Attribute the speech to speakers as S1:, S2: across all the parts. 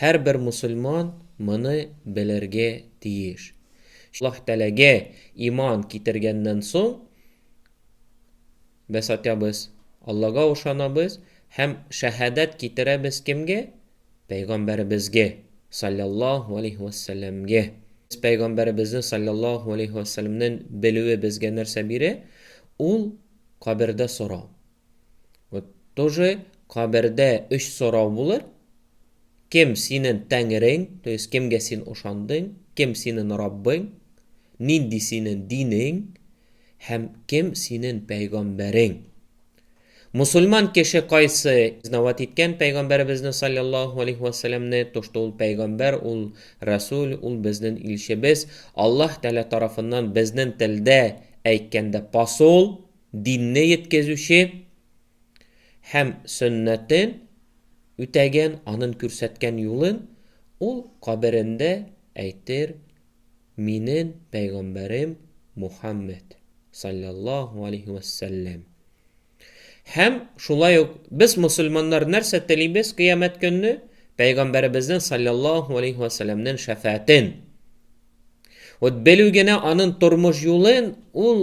S1: Һәрбер мусульман моны белергә тиеш. Аллаһ Тәгаләгә иман китергәннән соң, без атябыз, Аллага ышанабыз һәм шәһадәт китерәбез кемгә? Пәйгамбәребезгә, салләллаһу алейһи вә сәлләмгә. Без Пәйгамбәребезне, салләллаһу алейһи вә сәлләмнән белүе безгә нәрсә бирә? Ул, кабердә сорау. Вот тоже кабердә өч сорау булыр. Кем синен тәңрең, то есть кемгә син ошандың, кем синен Раббың, нинди синен динең һәм кем синен пәйгамбәрең. Мусульман кеше кайсы изнават иткән пәйгамбәребезне саллаллаху алейхи вассаламны, то что ул пәйгамбәр, ул Расул, ул безнен илчебез, Аллаһ Тәгалә тарафыннан безнен телдә әйткәндә посол, динне йеткезүче һәм сөннәтен үтәгән, анын күрсәткән юлын ул каберендә әйтер, Минен пәйгамбәрем Мухаммәд, салләллаһу алейһи вә сәлләм. Һәм шулай ук без мөселманнар нәрсә телибез кыямәт көнне? Пәйгамбәребезнен салләллаһу алейһи вә сәлләмнен шәфәәтен. Вот белү генә анын тормыш юлын ул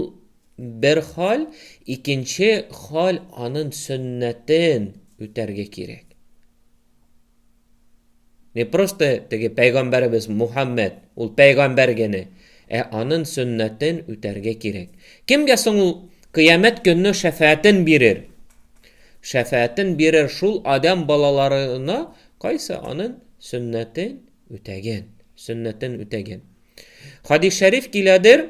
S1: Бер халь, икенче халь анын сөннәтен үтәргә кирәк. Не просто теге пәйгамбәребез Мухаммәд, ул пәйгамбәр генә, ә анын сөннәтен үтәргә кирәк. Кемгә соң ул кыямәт көнне шәфәәтен бирер? Шәфәәтен бирер шул адәм балаларына, кайсы анын сөннәтен үтәгән, сөннәтен үтәгән. Хадис шәриф киләдер,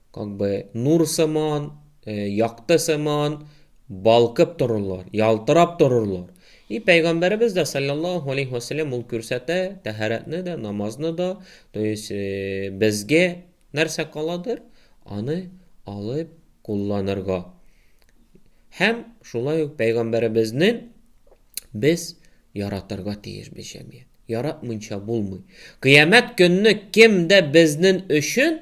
S1: Как бы нур сыман, якты сыман балкып торырлар, ялтырап торырлар. И пәйгамбәребез дә саллаллаһу алейхи ва саллям ул күрсәтә, тәһарәтне дә, намазны да, то есть безгә нәрсә каладыр, аны алып кулланырга. Һәм шулай ук пәйгамбәребезне без яратырга тиеш без җәмгыять. Яратмыйча булмый. Кыямәт көнне кем дә безнең өчен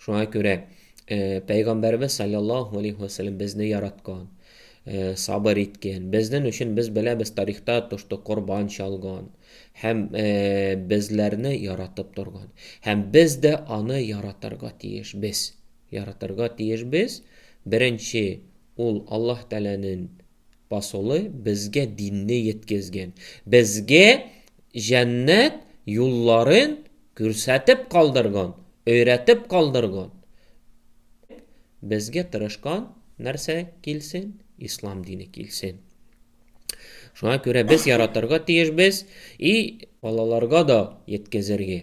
S1: Шуңа күрә Пәйгамбәрбез саллаллаху алейхи ва саллям безне яраткан, сабыр иткән. Безнең өчен без беләбез тарихта тошты корбан чалган һәм безләрне яратып торган. Һәм без дә аны яратырга тиеш без. Яратырга тиеш без. Беренче ул Аллаһ Тәгаләнең Посолы безгә динне йеткезген, безгә җәннәт юлларын күрсәтеп калдырган, өйрәтеп калдырган, безгә тырышкан нәрсә килсен, ислам дине килсен. Шуңа күрә без яратырга тиешбез и балаларга да йеткезергә.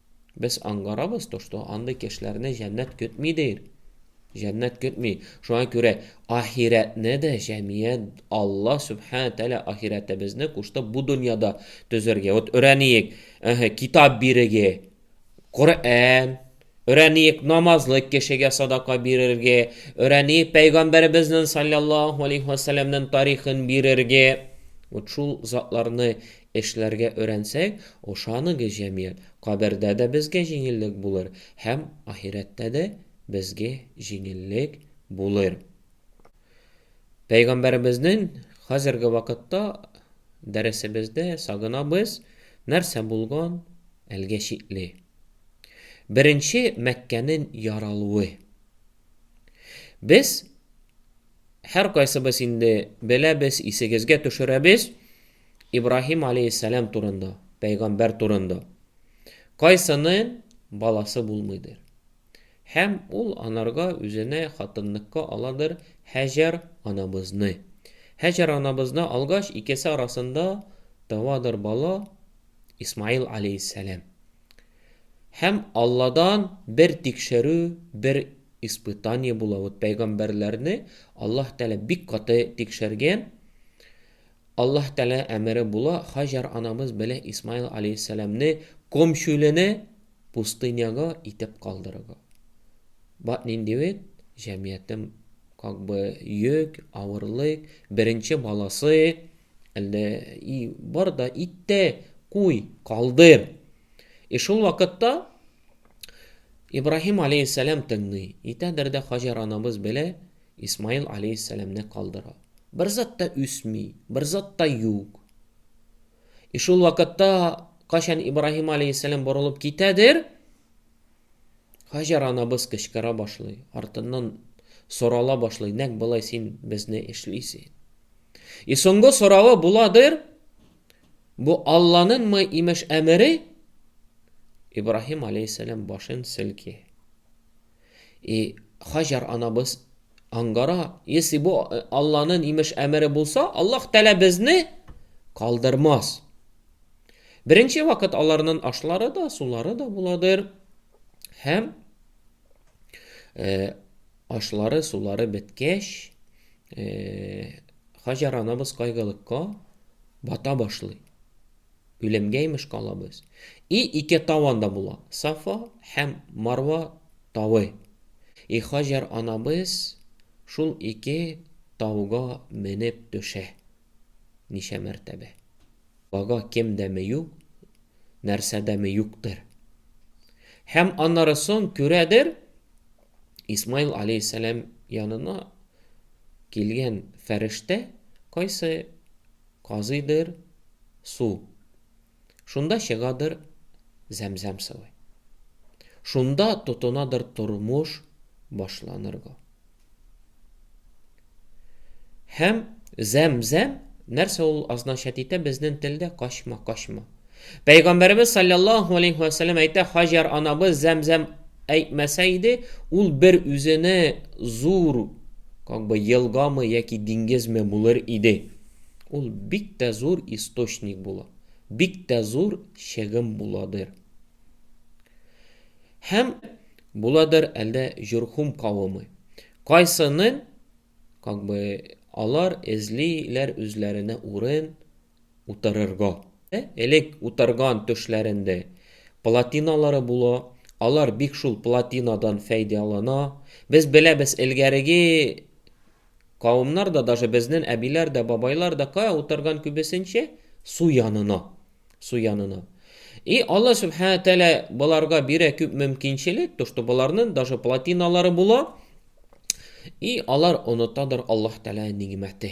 S1: Без аңгарабыз то, что андый кешеләрне җәннәт көтми дир. Җәннәт көтми. Шуңа күрә ахирәтне дә җәмият Алла Сүбхәнә Тәгалә ахирәтебезне кушты бу дөньяда төзергә. Вот өрәниек, әһә, китап бирергә, Коръән, өрәниек намазлы кешегә садака бирергә, өрәниек пәйгамбәребезнең саллаллаһу алейһи ва сәлләмнең тарихын бирергә. Вот шул затларны Эшләргә өйрәнсәк, ошаныгыз, җәмигать, кабердә дә безгә җиңеллек булыр һәм ахирәттә дә безгә җиңеллек булыр. Пәйгамбәребезнең хәзерге вакытта дәресебездә сагынабыз, нәрсә булган әлгә шикле. Беренче Мәккәнең яралуы. Без һәркайсыбыз инде беләбез, исегезгә төшерәбез, Ибраһим аләйһиссәлам турында, пәйгамбәр турында. Кайсынын баласы булмыйдыр? Һәм ул анарга үзенә хатынныкка аладыр Һәҗәр анабызны. Һәҗәр анабызны алгач, икесе арасында табадыр бала Исмаил аләйһиссәлам. Һәм Алладан бер тикшерү, бер испытание була. Вот пәйгамбәрләрне Аллаһ Тәгалә бик каты тикшергән. Аллаһ Тәгалә әмере була, Хаҗар анабыз белә Исмаил алейһиссәламне комчүлене пустыняга итеп калдырыга. Бат нинди бит, җәмиятем как бы йөк, авырлык, беренче баласы, әлдә и бар да итте, куй, калдыр. И шул вакытта Ибраһим алейһиссәлам тыңлый. Итәдер дә Хаҗар анабыз белә Исмаил алейһиссәламне калдыра. Бер зат та үсми, бер зат та юк. И шул вакытта, качан Ибраһим алейһиссәлам борылып китәдер, Хаҗар анабыз кычкыра башлый, артыннан сорала башлый, нәк болай син безне эшлисең. И соңгы соравы буладыр, бу Алланыңмы имеш әмере? Ибраһим алейһиссәлам башын селки. И Хаҗар анабыз аңгара, если бу э, Алланын имеш әмере булса, Аллах Тәлә безне калдырмас. Беренче вакыт аларнын ашлары да, сулары да буладыр. Һәм э, ашлары, сулары беткәч, э, Хаҗар анабыз кайгылыкка бата башлый. Үлемгә имеш калабыз. И ике тау анда була, Сафа һәм Марва тавы. И Хаҗәр анабыз шул ике тауга менеп төшә. Ничә мәртәбә. Бага кем дә ме юк, нәрсә дә ме юктыр. Һәм аннары сон күрәдер, Исмаил алейһиссәлам янына килгән фәрештә кайсы Казыйдыр су. Шунда чыгадыр зәмзәм сывы. Шунда тотынадыр тормыш башланырга. Һәм зәмзәм нәрсә ул означать итә безнең телдә качма, качма. Пәйгамбәребез саллаллаһу алейһи вә сәлләм әйтә, Хаҗар анабыз Зәмзәм әйтмәсә иде, ул бер үзене зур, как бы елгамы яки диңгезме булыр иде. Ул бик тә зур источник була, бик тә зур чыгым буладыр. Һәм буладыр әлдә Җурхум кавымы. Кайсынын, как бы алар эзлиләр үзләренә урын, утырырга. Элек утырган түшләрендә платиналары була, алар бик шул платинадан фәйдәлана. Без беләбез, элгәреге кавымнар да, даже безнен әбиләр дә, бабайлар да кая утырган күбесенчә? Су янына. Су янына. И Алла Сүбхәнә Тәгалә боларга бирә күп мөмкинчелек, то, что боларнын даже платиналары була, и алар онытадыр Аллаһ Тәгалә нигъмәте.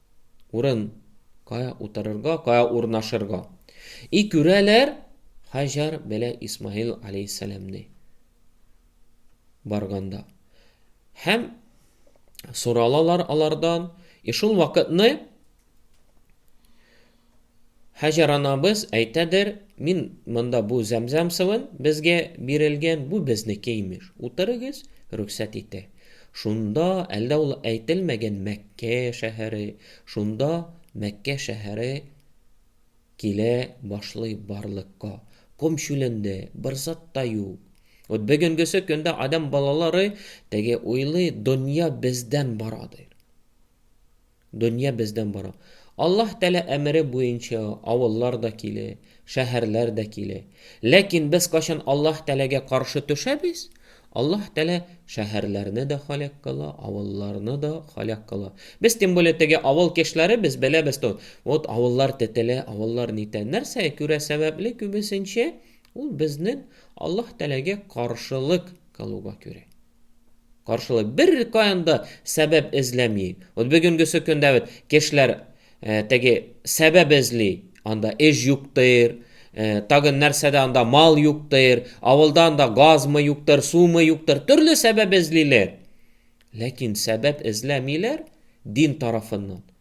S1: Урын, кая утырырга, кая урнашырга. И күрәләр Хаҗар белә Исмаил алейхиссәламне барганда. Һәм соралалар алардан, и шул вакытны Һаҗәр анабыз әйтәдер, Мин монда бу зәмзәм суын безгә бирелгән, бу безнеке, имеш. Утырыгыз, рөхсәт итә. Шунда, әлдә ул әйтелмәгән Мәккә шәһәре, шунда Мәккә шәһәре килә башлый барлыкка. Ком чүлендә, бер зат та юк. Вот бөгенгесе көндә адәм балалары теге уйлый, дөнья бездән барадыр. Дөнья бездән бара. Аллаһ Тәгалә әмере буенча авыллар да килә, шәһәрләр дә килә. Ләкин без кайчан Аллаһ Тәгаләгә каршы төшәбез, Аллаһ Тәгалә шәһәрләрне дә һәлак кыла, авылларны да һәлак кыла. Без тем более теге авыл кешеләре, без беләбез тот, вот авыллар тетелә, авыллар нитә. Нәрсә күрә сәбәпле күбесенчә, ул безнең Аллаһ Тәгаләгә каршылык кылуга күрә. Каршылай. Бер каян да сәбәп эзләми. Вот бүгенгесе көндә вот кешеләр э, теге сәбәп эзли. Анда эш юктыр, э, тагын нәрсәдә анда мал юктыр, авылда анда газмы юктыр, сумы юктыр, төрле сәбәп эзлиләр. Ләкин сәбәп эзләмиләр дин тарафыннан.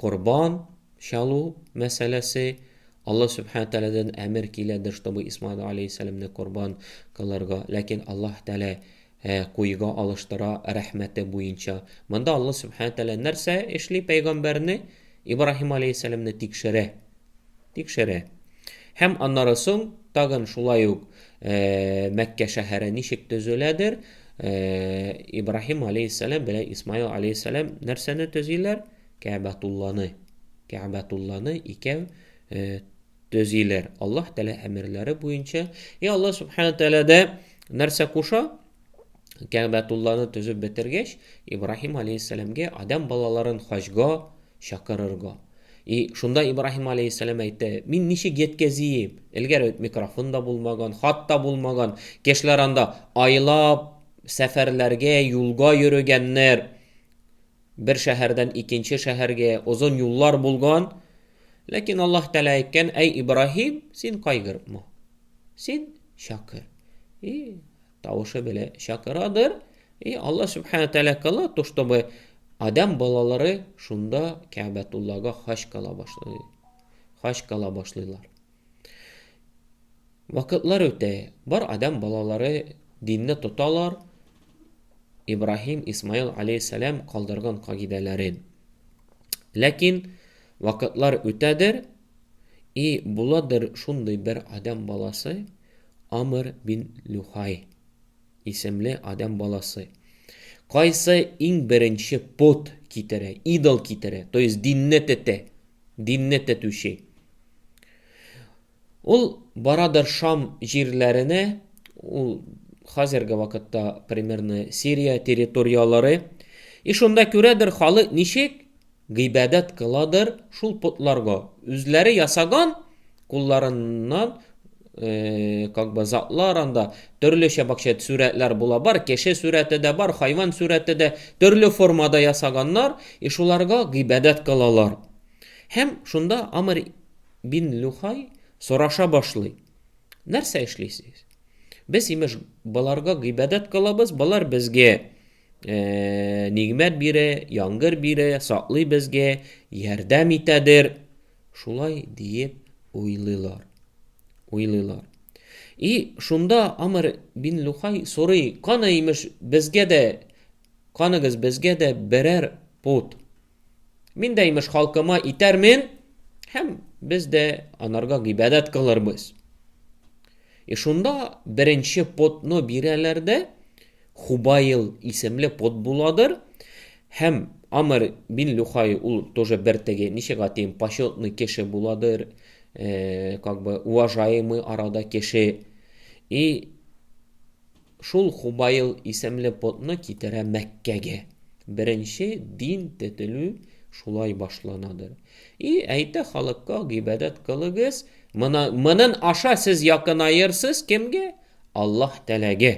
S1: Корбан чалу мәсьәләсе, Аллаһ Сүбхәнә Тәгаләдән әмер киләдер, чтобы Исмаил алейһиссәламне корбан кылырга, ләкин Аллаһ Тәгалә э, куйга алыштыра рәхмәте буенча. Монда Аллаһ Сүбхәнә Тәгалә нәрсә эшли, пәйгамбәрне, Ибраһим алейһиссәламне тикшерә. Тикшерә. Һәм аннары соң тагын шулай ук Мәккә шәһәре ничек төзеләдер, Ибраһим алейһиссәлам белән Исмаил алейһиссәлам нәрсәне төзиләр? Кәбәтулланы. Кәбәтулланы икәү төзиләр. Аллаһ Тәгалә әмерләре буенча. И Аллаһ Субхану Тәгалә нәрсә куша? Кәгъбәтулланы төзеп бетергәч, Ибраһим алейһиссәламгә адәм балаларын хаҗга чакырырга. И, шунда Ибраһим алейһиссәлам әйтте, мин ничек яткәзием? Элгәр бит микрофон да булмаган, хат та булмаган. Кешеләр анда айлап сәфәрләргә, юлга йөрегәннәр. Бер шәһәрдән икенче шәһәргә озын юллар булган. Ләкин Аллаһ Тәгалә әйткән, әй Ибраһим, син кайгырма. Син чакыр. И тавышы белән чакырадыр. И Алла Субхану Тәлә кыла, то, чтобы Адам балалары шунда Кәбәтуллага хач кала башлый. Хач кала башлыйлар. Вакытлар үтә, бар Адам балалары динне тоталар. Ибраһим, Исмаил алейхиссалам калдырган кагыйдәләрен. Ләкин вакытлар үтәдер, и буладыр шундый бер Адам баласы, Амр бин Люхай исемле адәм баласы. Кайсы иң беренче пот китерә, идол китерә, то есть динне тетә, динне тетүче. Ул барадыр Шам җирләренә, ул хәзерге вакытта примерно Сирия территорияләре, и шунда күрәдер халык ничек Гыйбадәт кыладыр шул потларга. Үзләре ясаган кулларыннан как бы затлар анда төрле чәбакчә сүрәтләр була бар кеше сүрәте дә бар хайван сүрәте дә төрле формада ясаганнар и шуларга гыйбадәт кылалар һәм шунда амр бин люхай сораша башлый нәрсә эшлисез без имеш боларга гыйбадәт кылабыз болар безгә Э, нигмәт бире, яңгыр бире, саклый безгә, ярдәм итәдер. Шулай диеп уйлыйлар. Уйлыйлар. И шунда Амр бин Лухай сорый, каны имеш безгә дә, каныгыз безгә дә берәр пут, Мин дә, имеш, халкыма итәрмен, һәм без дә анарга гыйбадәт кылырбыз. И шунда беренче потны бирәләр дә, Хубаил исемле пот буладыр, һәм Амр бин Люхай ул тоже бер теге, ничек атыйм, почетный кеше буладыр, э, как бы уважаемый арада кеше. И Шул Хубаил исемле потны китерә Мәккәгә. Беренче дин тетелү шулай башланадыр. И әйтә халыкка гыйбадәт кылыгыз, мона, монын аша сез якынаерсыз кемгә? Аллаһ Тәләгә.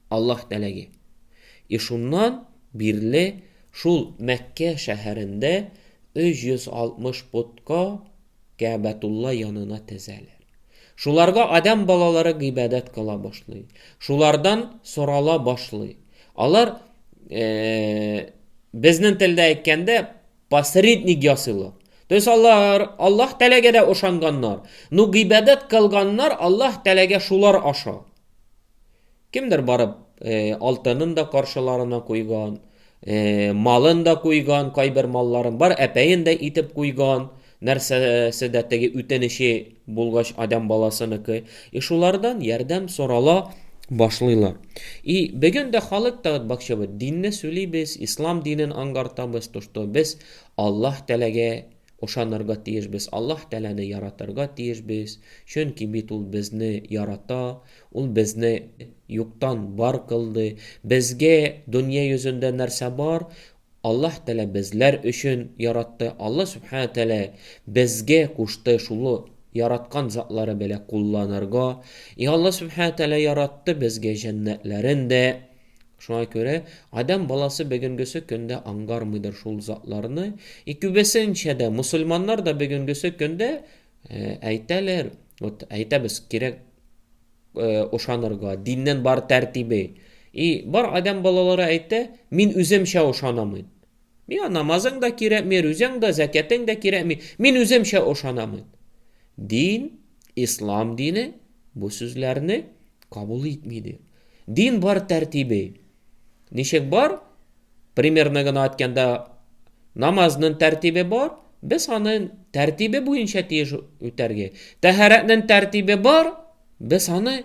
S1: Аллаһ Тәләгә. И шуннан бирле шул Мәккә шәһәрендә 360 потка Кәәбәтулла янына тезәләр. Шуларга адәм балалары гыйбадәт кыла башлый. Шулардан сорала башлый. Алар, безнең телдә әйткәндә, посредник ясыйлар. То есть алар Аллаһ Тәгаләгә дә ышанганнар, но гыйбадәт кылганнар Аллаһ Тәгаләгә шулар аша. Кемдер барып, э, алтынын да каршыларына куйган, э, малын да куйган, кайбер малларын бар, әпәен дә итеп куйган, нәрсәсе дә теге үтенече булгач адам баласыныкы. И шулардан ярдәм сорала башлыйлар. И бүген дә халык та бакчабы динне сүлибез, ислам динен аңгартабыз, то что без Аллаһ тәләгә Ошанырга тиешбез, Аллаһ Тәгаләне яратырга тиешбез, чөнки бит Ул безне ярата, Ул безне юктан бар кылды. Безгә дөнья йөзендә нәрсә бар, Аллаһ Тәгалә безләр өчен яратты. Аллаһ Сүбхәнәһү Тәгалә безгә кушты шул яраткан затлары белән кулланырга. И Аллаһ Сүбхәнәһү Тәгалә яратты безгә җәннәтләрен дә, Шуңа күрә адәм баласы бөгенгесе көндә аңгармыйдыр шул затларны, и күбесенчә дә мосылманнар да бөгенгесе көндә әйтәләр, вот әйтәбез, кирәк ошанырга, диннән бар тәртибе. И бар адәм балалары әйтә, мин үземчә ошанамын. Миңа намазың да кирәкми, рүзәң дә, зәкәтең дә кирәкми, мин үземчә ошанамын. Дин, ислам дине бу сүзләрне кабул итмидер. Дин бар тәртибе. Ничек бар? Примерно гына айтканда, намазнын тәртибе бар, без аны тәртибе буенча тиеш үтәргә. Тәһарәтнен тәртибе бар, без аны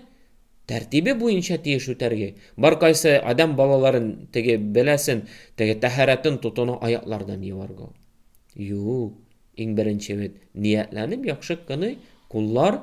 S1: тәртибе буенча тиеш үтәргә. Бар кайсы адам балаларын теге беләсен, теге тәһарәтен тотуны аяклардан юарга. Юк, иң беренче бит ниятләнеп яхшы кыны куллар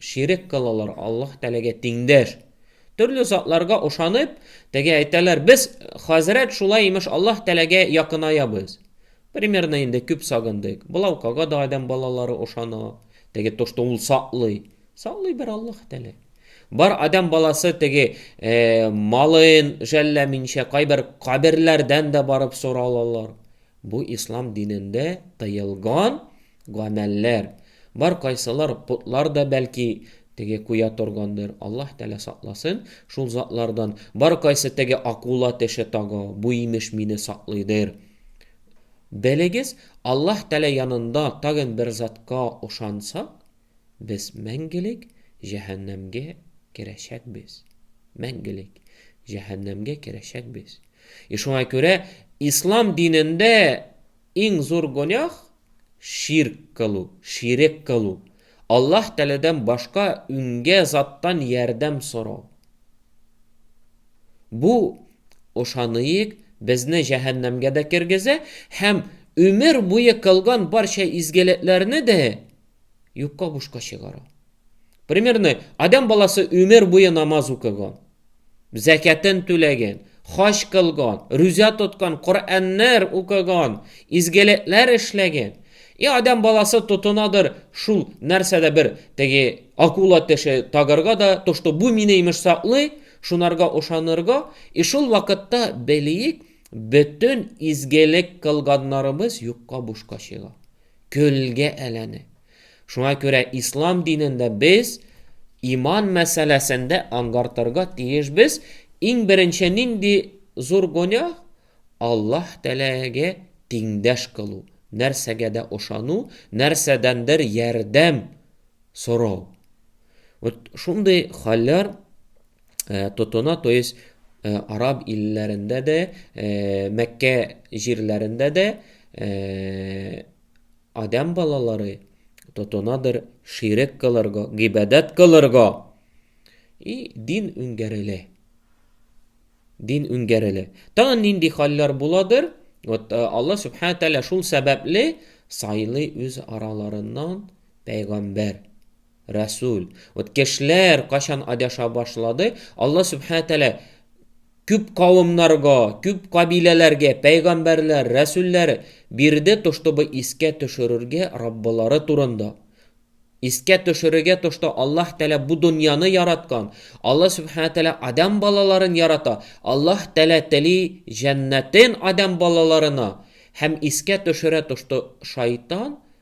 S1: Ширек кылалар Аллаһ Тәгаләгә тиңдәш. Төрле затларга ышанып, теге әйтәләр, без, хәзрәт, шулай имеш Аллаһ Тәгаләгә якынаябыз. Примерно инде күп сагындык. Былаукага да адәм балалары ышана. Теге тошты ул саклый. Саклый бер Аллаһ Тәгалә. Бар адәм баласы теге малын жәлләминчә кайбер каберләрдән дә барып соралалар. Бу ислам динендә тыелган гамәлләр, бар кайсылар потлар да бәлки теге куя торгандыр, Аллаһ Тәгалә сакласын шул затлардан, бар кайсы теге акула теше тага, бу имеш мине саклыйдыр. Белегез, Аллаһ Тәгалә янында тагын бер затка ошансак, без мәңгелек җәһәннәмгә керәчәкбез. Мәңгелек җәһәннәмгә керәчәкбез. И шуңа күрә ислам динендә Иң зур гонях, ширк кылу, ширек кылу, Аллаһ Тәгаләдән башка үнгә заттан ярдәм сорау. Бу, ышаныйк, безне җәһәннәмгә дә кергезә һәм өмер буе кылган барча изгелекләрне дә юкка бушка чыгара. Примерно, Адәм баласы өмер буе намаз укыган. зәкятен түләгән, хаҗ кылган, рүзә тоткан, Коръәннәр укыган, изгелекләр эшләгән. И адәм баласы тотынадыр шул нәрсәдә бер теге акула теше тагырга да тошты. Бу мине имеш саклый, шунарга ошанырга. И шул вакытта белиек, бөтен изгелек кылганнарыбыз юкка бушка чыга. Көлгә әйләнә. Шуңа күрә ислам динендә без иман мәсьәләсендә аңгартырга тиешбез, иң беренче нинди зур гөнаһ? Аллаһ Тәгаләгә тиңдәш кылу, нәрсәгә дә ышану, нәрсәдәндер ярдәм сорау. Вот шундый хәлләр тотына, то есть араб илләрендә дә, Мәккә җирләрендә дә Адәм балалары тотынадыр ширек кылырга, гыйбадәт кылырга. И дин үнгәрелә. Дин үнгәрелә. Тагын нинди хәлләр буладыр? Вот э, Алла Субхана Тәлә шул сәбәпле сайлый үз араларыннан пәйгамбәр, рәсүл. Вот кешеләр качан адаша башлады, Алла Субхана Тәлә Күп кавымнарга, күп кабиләләргә пәйгамбәрләр, рәсүлләр бирде тоштобы искә төшерергә Раббылары турында. Искә төшерергә тошто Аллаһ Тәгалә бу дөньяны яраткан, Аллаһ Сүбхәнә Тәгалә адәм балаларын ярата, Аллаһ Тәгалә тели җәннәтен адәм балаларына һәм искә төшерә тошто шайтан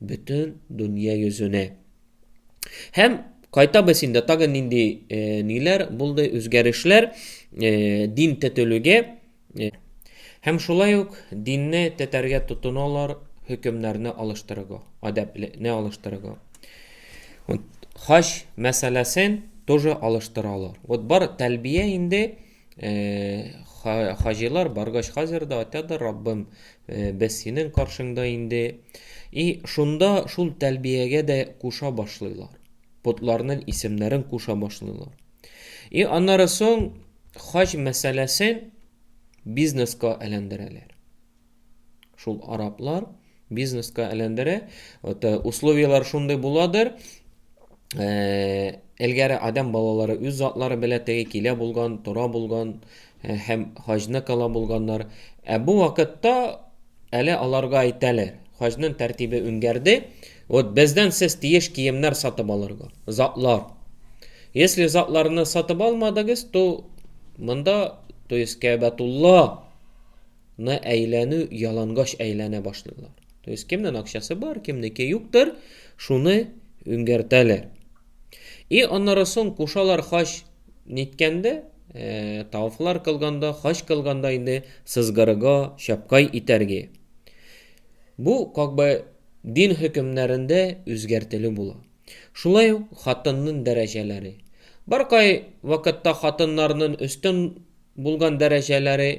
S1: Бөтен дөнья йөзенә. Һәм кайтабыз инде, тагын нинди э, ниләр булды, үзгәрешләр э, дин тетелүгә. Э, һәм шулай ук динне тетәргә тотыналар, хөкемнәрне алыштырыга, адәпне алыштырыга. Вот, хач мәсьәләсен тоже алыштыралар. Вот бар тәлбия инде Хаҗилар баргач хәзер дә атядыр, Раббым, без синең каршыңда инде. И шунда шул тәлбиягә дә куша башлыйлар. Потларның исемнәрен куша башлыйлар. И аннары соң хаҗ мәсьәләсен бизнеска әйләндерәләр. Шул араплар бизнеска әйләндерә. Вот, э, условияләр шундый буладыр. Э, Элгәре адәм балалары үз затлары белә теге килә булган, тора булган э, һәм хаҗны кала булганнар. Ә бу вакытта әле аларга әйтәләр. Хаҗның тәртибе үнгәрде. Вот бездән сез тиеш киемнәр сатып алырга. Затлар. Если затларны сатып алмадыгыз, то монда, то есть Кәбәтулла на әйләнү ялангач әйләнә башлыйлар. То есть кемнең акчасы бар, кемнеке юктыр, шуны үңгәртәләр. И аннары соң кушалар хач ниткәндә, э, тавфлар кылганда, хач кылганда инде сызгырыга чапкай итәргә. Бу как бы дин хөкемнәрендә үзгәртелү була. Шулай ук хатыннын дәрәҗәләре. Баркай вакытта хатыннарнын өстен булган дәрәҗәләре,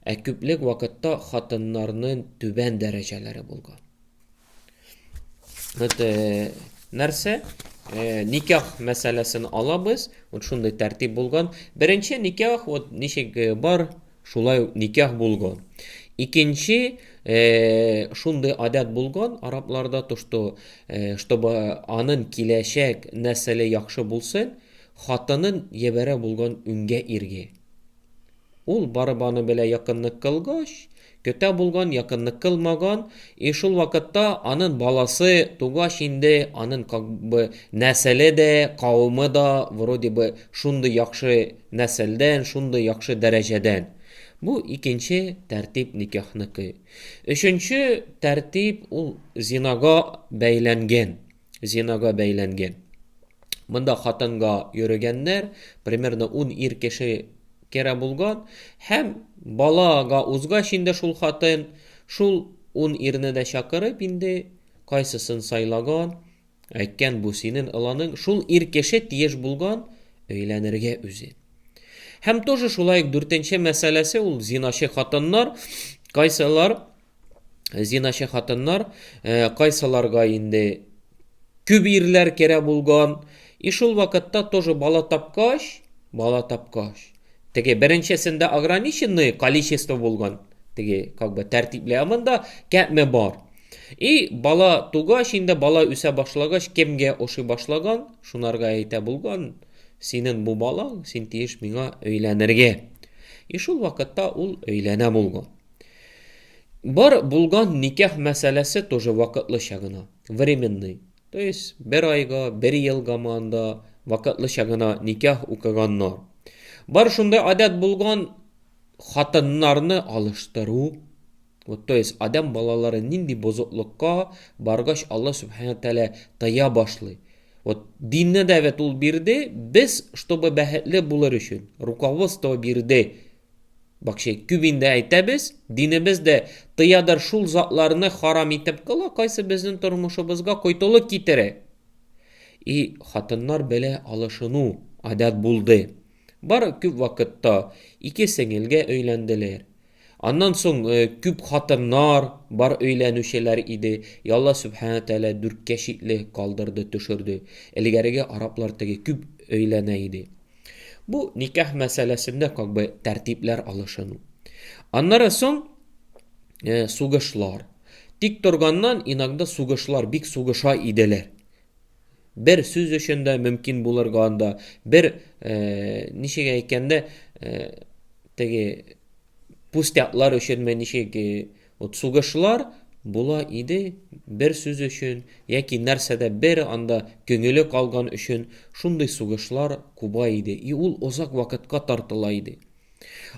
S1: ә күплек вакытта хатыннарнын түбән дәрәҗәләре булган. Вот нәрсә? Никах мәсьәләсен алабыз. Вот шундый тәртип булган. Беренче никах вот ничек бар Шулай ук никях булган. Икенче шундый адәт булган арапларда то, что чтобы анын киләчәк нәселе яхшы булсын, хатынын ебәрә булган үнгә иргә. Ул барып аны белә якынлык кылгач, көтә булган, якынлык кылмаган, и шул вакытта анын баласы тугач инде анын как бы нәселе дә, кавымы да вроде бы шундый яхшы Нәселдән, шундый яхшы дәрәҗәдән. Бу икенче тәртип никяхныкы. Өченче тәртип ул зинага бәйләнгән. Зинага бәйләнгән. Монда хатынга йөрегәннәр, примерно 10 ир кеше керә булган һәм балага узгач инде шул хатын шул 10 ирне дә чакырып инде кайсысын сайлаган, Әйткән бу синен ыланың шул ир кеше тиеш булган өйләнергә үзе. Һәм тоже шулай ук дүртенче мәсьәләсе ул зиначы хатыннар, кайсылар зиначы хатыннар, э, кайсыларга инде күп ирләр керә булган, и шул вакытта тоже бала тапкач, бала тапкач. Теге беренчесендә ограниченное количество булган, теге как бы тәртипле, ә монда кәпме бар. И бала тугач инде бала үсә башлагач кемгә ошый башлаган, шунарга әйтә булган, синен бу балаң, син тиеш миңа өйләнергә. И шул вакытта ул өйләнә булган. Бар булган никах мәсьәләсе тоже вакытлыча гына, временный. То есть бер айга, бер елга манда вакытлыча гына никах укыганнар. Бар шундай адәт булган хатыннарны алыштыру. Вот, то есть адам балалары нинди бозыклыкка баргач Алла Субхана Тәлә тыя башлый. Вот динне дәвет ул бирде, без, чтобы бәхетле булыр өчен, руководство бирде. Бак шей күп инде әйтәбез, динебез дә тыядыр шул затларны харам итеп кыла, кайсы безнең тормышыбызга койтылык китерә. И хатыннар белә алышыну адәт булды. Бар күп вакытта ике сеңелгә өйләнделәр. Аннан соң э, күп хатыннар бар өйләнүчеләр иде. Ялла Сүбхәнә Тәгалә дүрткә чикле калдырды, төшерде. Элгәреге араплар теге күп өйләнә иде. Бу никах мәсьәләсендә как бы тәртипләр алышыну. Аннары соң э, сугышлар. Тик торганнан иногда сугышлар бик сугыша иделәр. Бер сүз өчен дә мөмкин булырга анда, бер э, ничек әйткәндә, э, теге пустяклар өченме, ничек э, Вот сугышлар була иде бер сүз өчен, яки нәрсәдә бер анда көңеле калган өчен, шундый сугышлар куба иде, и ул озак вакытка тартыла иде.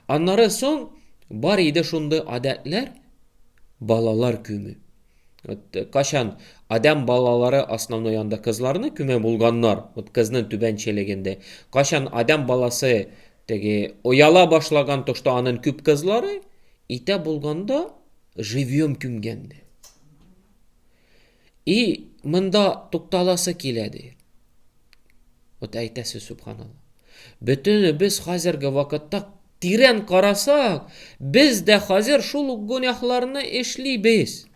S1: Аннары соң бар иде шундый адәтләр, балалар күмү. Вот качан адәм балалары основной анда кызларны күмә булганнар, вот кызның түбәнчелегендә, качан адәм баласы Теге ояла башлаган тошта анын күп кызлары, итә булганда живьем күмгән ди. И монда тукталасы килә ди. Вот әйтәсе субханалла. Бөтенебез хәзерге вакытта тирән карасак, без дә хәзер шул ук гүнәһларны эшлибез.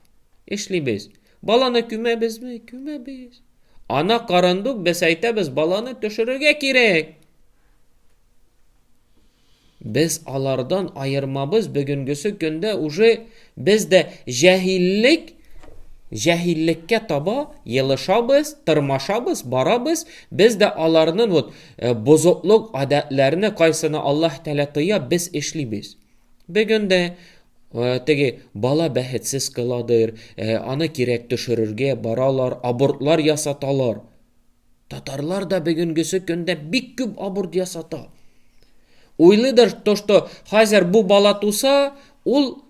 S1: Эшлибез. Баланы күмәбезме? Күмәбез. Ана карындук без әйтәбез, баланы төшерергә кирәк. Без алардан аермабыз бүгенгесе көндә уже без дә җәһиллек җәһиллеккә таба елышабыз, тырмашабыз, барабыз. Без дә аларның вот э, бозыклык гадәтләрне кайсыны Аллаһ Тәгалә тыя, без эшлибез. Бүген дә э, теге бала бәхетсез кыладыр, э, аны кирәк төшерергә баралар, абортлар ясаталар. Татарлар да бүгенгесе көндә бик күп аборт ясата. Уйлыйдыр то, что хәзер бу бала туса, ул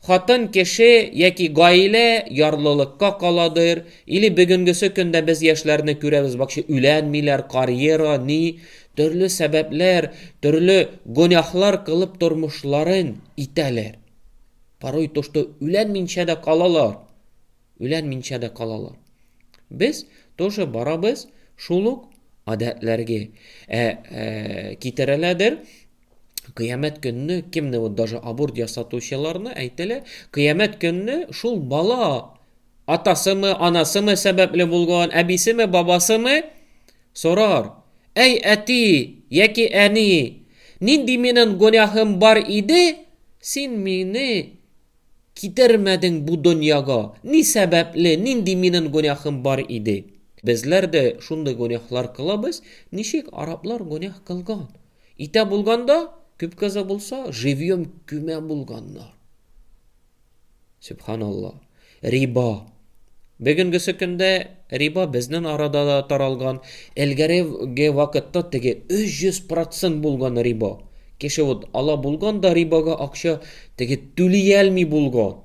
S1: хатын кеше яки гаилә ярлылыкка каладыр, или бүгенгесе көндә без яшьләрне күрәбез, бакчы үләнмиләр, карьера, ни, төрле сәбәпләр, төрле гонәхлар кылып тормышларын итәләр. Порой то, что үләнминчә дә калалар. үлән минчәдә калалар. Без тоже барабыз, шул ук гадәтләргә. Ә, ә китерәләдер, кыямәт көнне кемне вот даже аборт ясатучыларны әйтәләр, кыямәт көнне шул бала атасымы, анасымы сәбәпле булган, әбисеме, бабасымы сорар. Әй әти, яки әни, нинди минем гөнаһым бар иде, син мине Китермәдең бу дөньяга, ни сәбәпле, нинди минен гөнаһым бар иде? Безләр дә шундый гөнаһлар кылабыз, ничек араблар гөнаһ кылган. Итә булганда, күп кызы булса, живьем күмә булганнар. Сөбханалла. Риба. Бүгенгесе көндә риба безнен арада да таралган, элгәреге вакытта теге 300% булган риба. Кеше вот ала булган да рибага акча теге түлиялми булган.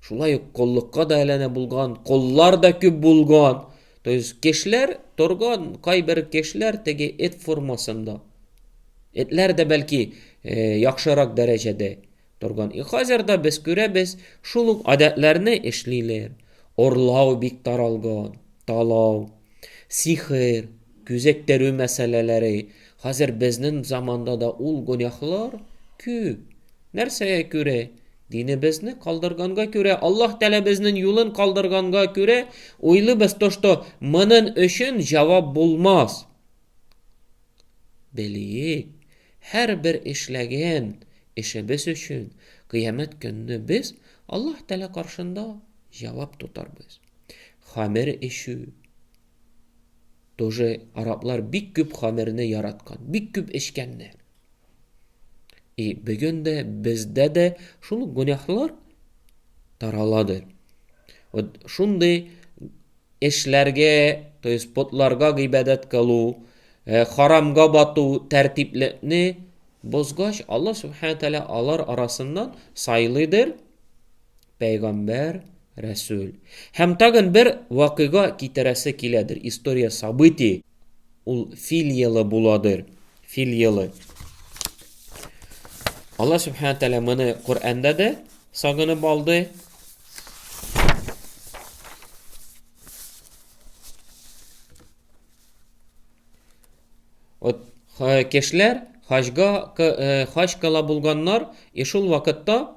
S1: Шулай ук коллыкка да әләнә булган, коллар да күп булган. То есть кешеләр торган кайбер кешеләр теге эт формасында. Этләр дә бәлки э, яхшырак дәрәҗәдә. Торган. И хәзер дә без күрәбез, шул ук гадәтләрне эшлиләр. Орлау бик таралган, талау, сихер, күзәктерү мәсьәләләре. Хәзер безнең заманда да ул гөнаһлар күп. Нәрсәгә күрә? Динебезне калдырганга күрә, Аллаһ Тәгалә безнең юлын калдырганга күрә, уйлыйбыз то, что монын өчен җавап булмас. Белик, һәрбер эшләгән эшебез өчен кыямәт көнне без Аллаһ Тәгалә каршында җавап тотарбыз. Хамер эчү. Тоже араблар бик күп хамерне яраткан, бик күп эчкәннәр. И бүген дә бездә дә шул гөнаһлар тараладыр. Вот шундый эшләргә, то есть потларга гыйбадәт кылу, харамга бату, тәртиплекне бозгач, Аллаһ Субхану Тәала алар арасыннан сайлыйдыр пәйгамбәр, рәсүл. Һәм тагын бер вакыйга китерәсе киләдер, история, событие. Ул фил елы буладыр. Фил елы. Алла Субхану Тәлә моны Коранда да сагынып алды. Вот кешеләр хаҗга хаҗ кыла булганнар, и шул вакытта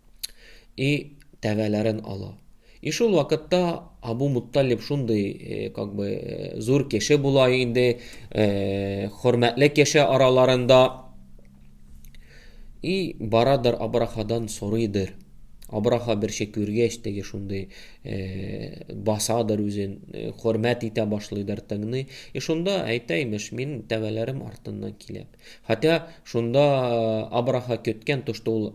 S1: и тәбәләрен ала. И шул вакытта Абу Мутталиб шундый, э, как бы, э, зур кеше була инде, э, хөрмәтле кеше араларында. И барадыр Абрахадан сорыйдыр. Абраха бер шик күргәч, теге шундый, э, басадыр үзен, э, хөрмәт итә башлыйдыр тыңны. И шунда әйтә имеш, мин тәбәләрем артыннан киләм. Хәтта шунда Абраха көткән тошты ул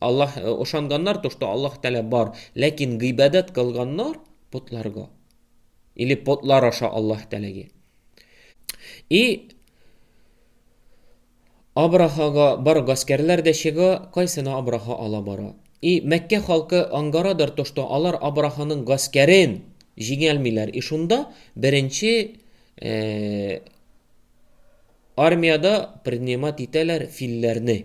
S1: Аллаһ ошанганнар то, что Аллаһ Тәгалә бар, ләкин гыйбадәт кылганнар потларга. Или потлар аша Аллаһ Тәгаләгә. И Абрахага бар гаскәрләр дә чыга, кайсына Абраха ала бара. И Мәккә халкы ангарадыр то, что алар Абраханың гаскәрен җиңәлмиләр. И шунда беренче армиядә принимать итәләр филләрне.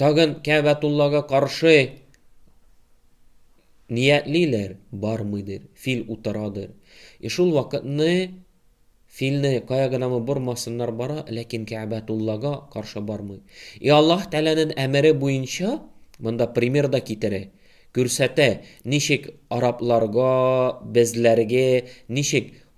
S1: Тагын Кәәбәтуллага каршы ниятлиләр бармыйдыр, фил утырадыр. И шул вакытны филне кая гынамы бормасыннар бара, ләкин Кәәбәтуллага каршы бармый. И Аллаһ Тәгаләнең әмере буенча монда пример да китерә, күрсәтә, ничек арабларга, безләргә, ничек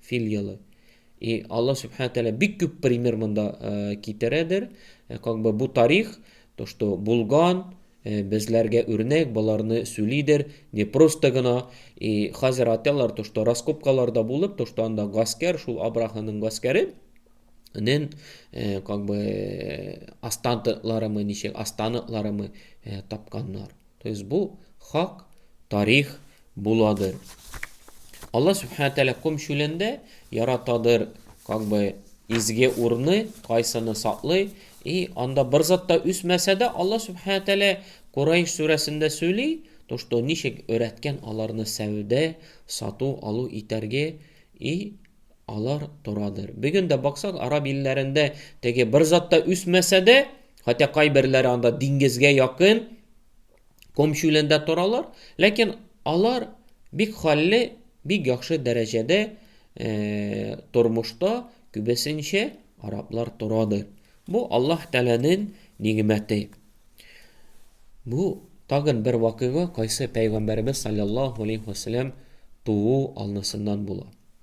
S1: Фил елы. И Аллаһ Субхану Тәлә бик күп пример монда э, китерәдер. Э, как бы бу тарих, то, что булган, э, безләргә үрнәк, боларны сүлидер, не просто гына. И хазер аталар, то, что раскопкаларда булып, то, что анда гаскәр, шул Абраханың гаскәре, нен, э, как бы, э, астантларымы, ничек, астантларымы э, тапканнар. То есть бу хак тарих буладыр. Алла Субхану Тәлә ком чүлендә яратадыр, как бы изге урны, кайсыны саклый, и анда бер зат та үсмәсә дә, Алла Субхану Тәлә Курайш сүрәсендә сөйли, то что ничек өрәткән аларны сәүдә, сату, алу итәрге, и алар торадыр. Бүген дә баксак, араб илләрендә теге бер зат та үсмәсә дә, Хотя кайберләре анда диңгезгә якын ком чүлендә торалар, ләкин алар бик хәлле, бик яхшы дәрәҗәдә э, тормышта күбесенчә араблар торадыр. Бу Аллаһ Тәгаләнең нигъмәте. Бу тагын бер вакыйга, кайсы пәйгамбәребез саллаллаһу алейхи ва саллям туу алнысыннан була.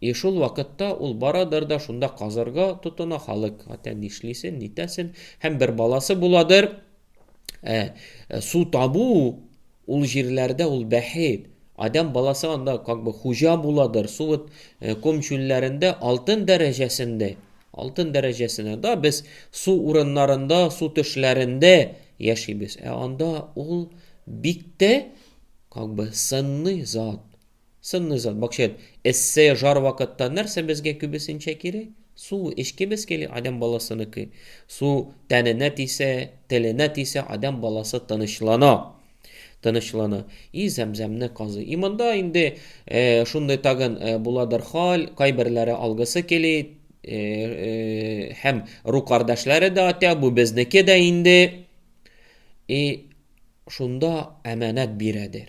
S1: И шул вакытта ул барадыр да шунда казырга тотына халык хәтта нишлисен, нитәсен, һәм бер баласы буладыр. Ә, ә, су табу ул җирләрдә ул бәхет. Адам баласы анда как бы хуҗа буладыр. Су вот э, ком чүлләрендә алтын дәрәҗәсендә. Алтын дәрәҗәсенә да без су урыннарында, су төшләрендә яшибез. Ә анда ул бик тә как бы сынный зат. Сынны зат, бакчет, эссе, жар вакытта нәрсә безгә күбесенчә кирәк? Су эчкебез кили, адәм баласыныкы. Су тәненә тисә, теленә тисә, адәм баласы тынычлана. Тынычлана. И Зәмзәмне казый. И монда инде шундый тагын буладыр хал, кайберләре алгысы кили, һәм ру кардәшләре дә атя, бу безнеке дә инде. И шунда әманәт бирәдер.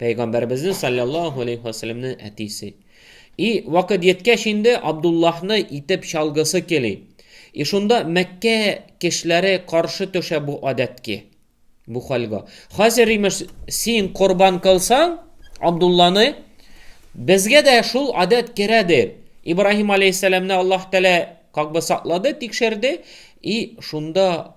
S1: Пәйгамбәребезнең саллаллаһу алейхи ва сәлләмнең әтисе. И вакыт җиткәч инде Абдуллаһны итеп чалгысы кели. И шунда Мәккә кешеләре каршы төшә бу адәткә, бу хәлгә. Хәзер имеш син корбан кылсаң Абдулланы, безгә дә шул адәт керәдер. Ибраһим алейхиссәламне Аллаһ Тәгалә как бы саклады, тикшерде. И шунда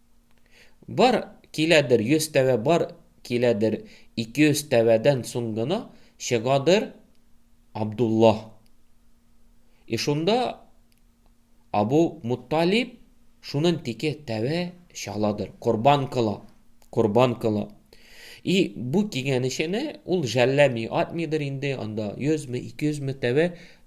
S1: Бар киләдер йөз тәвә, бар киләдер ике йөз тәвәдән соң гына чыгадыр Абдулла. И шунда Абу Мутталиб шунын тике тәвә чаладыр, корбан кыла, корбан кыла. И бу кигәнешене ул жәлләми, атмыйдыр инде анда 100 ме, 200 ме тәвә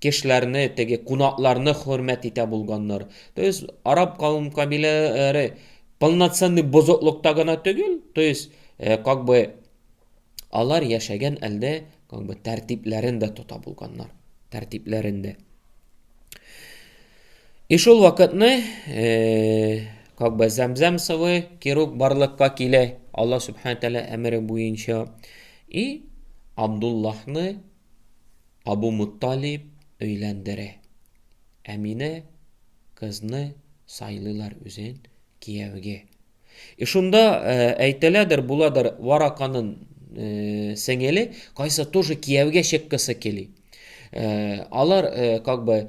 S1: кешеләрне, теге кунакларны хөрмәт итә булганнар. То есть араб кавым кабиләләре полноценный бозыклыкта гына түгел, то есть э, как бы алар яшәгән әлдә как бы тәртипләрен дә тота булганнар. Тәртипләрен дә. И шул вакытны э, как бы зәмзәм сывы кирук барлыкка килә. Алла субхана тәгалә әмере буенча. И Абдуллахны Абу Мутталиб өйләндерә. Әминә кызны сайлыйлар үзен кияүгә. И шунда әйтеләдер, буладыр, Вараканын сеңеле, кайсы тоже кияүгә чыккысы кели. Алар как бы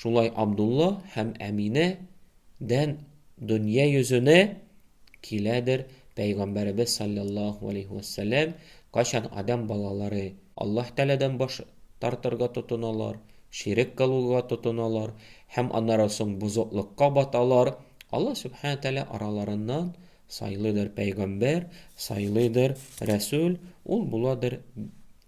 S1: Шулай Абдулла һәм Әминә дән дөнья йөзенә киләдер Пәйгамбәребез салләллаһу галәйһи вә сәлләм, кайчан адәм балалары Аллаһ Тәгаләдән баш тартырга тотыналар, ширек кылуга тотыналар һәм аннары соң бозыклыкка баталар, Аллаһ Сүбхәнә Тәгалә араларыннан сайлыйдыр пәйгамбәр, сайлыйдыр рәсүл, ул буладыр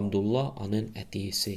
S1: Абдулла анын әтиесе.